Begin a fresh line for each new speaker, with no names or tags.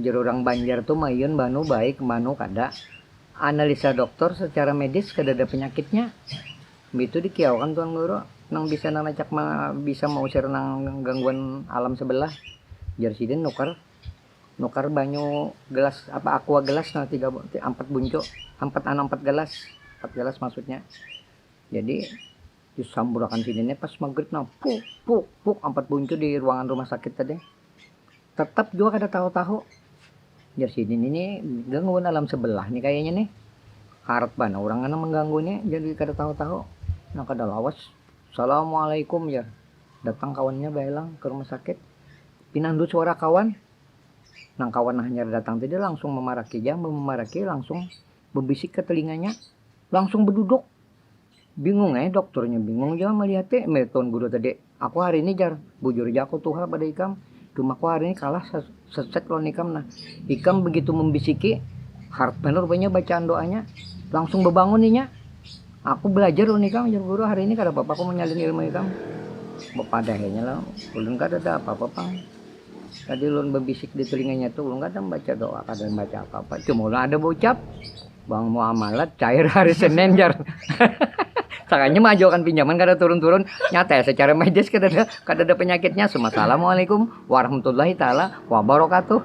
Jar urang Banjar tu mayun banu baik mbanu kada. Analisa doktor secara medis kadada penyakitnya. Mbitu dikiauakan tuan guru. Nang bisa nang nacak bisa mausir nang gangguan alam sebelah. Jar sidin nukar nukar banyu gelas apa aqua gelas nah tiga ampat buncu ampat anu ampat gelas ampat gelas maksudnya. Jadi. disamburakan sini nih pas maghrib nah puk puk puk empat buncu di ruangan rumah sakit tadi tetap juga kada tahu-tahu ya sini nih, nih gangguan alam sebelah nih kayaknya nih harat bana orang anak mengganggunya jadi kada tahu-tahu nah kada lawas assalamualaikum ya datang kawannya baelang ke rumah sakit pinandu suara kawan nang kawan hanya datang tadi langsung memaraki jam memaraki langsung berbisik ke telinganya langsung berduduk Bingung eh, dokternya bingung jua melihat eh, melihat tuan guru tadi. Aku hari ini jar, bujur ja aku tuhal pada ikam. Cuma aku hari ini kalah sesek lawan ikam nah. Ikam begitu membisiki, harap benar rupanya bacaan doanya. Langsung bebangun inya. Aku belajar lawan ikam, jar guru hari ini kada apa-apa aku menyalin ilmu ikam. Bepadahnya lah, ulun kada ada apa-apa pang. Tadi ulun bebisik di telinganya tu, ulun kada membaca doa, kada membaca apa-apa. Cuma ulun ada berucap, Bang muamalat cair hari Senin jar. Sakanya mengajukan pinjaman kada turun-turun nyata ya secara medis kada ada kada ada penyakitnya. Assalamualaikum warahmatullahi taala wabarakatuh.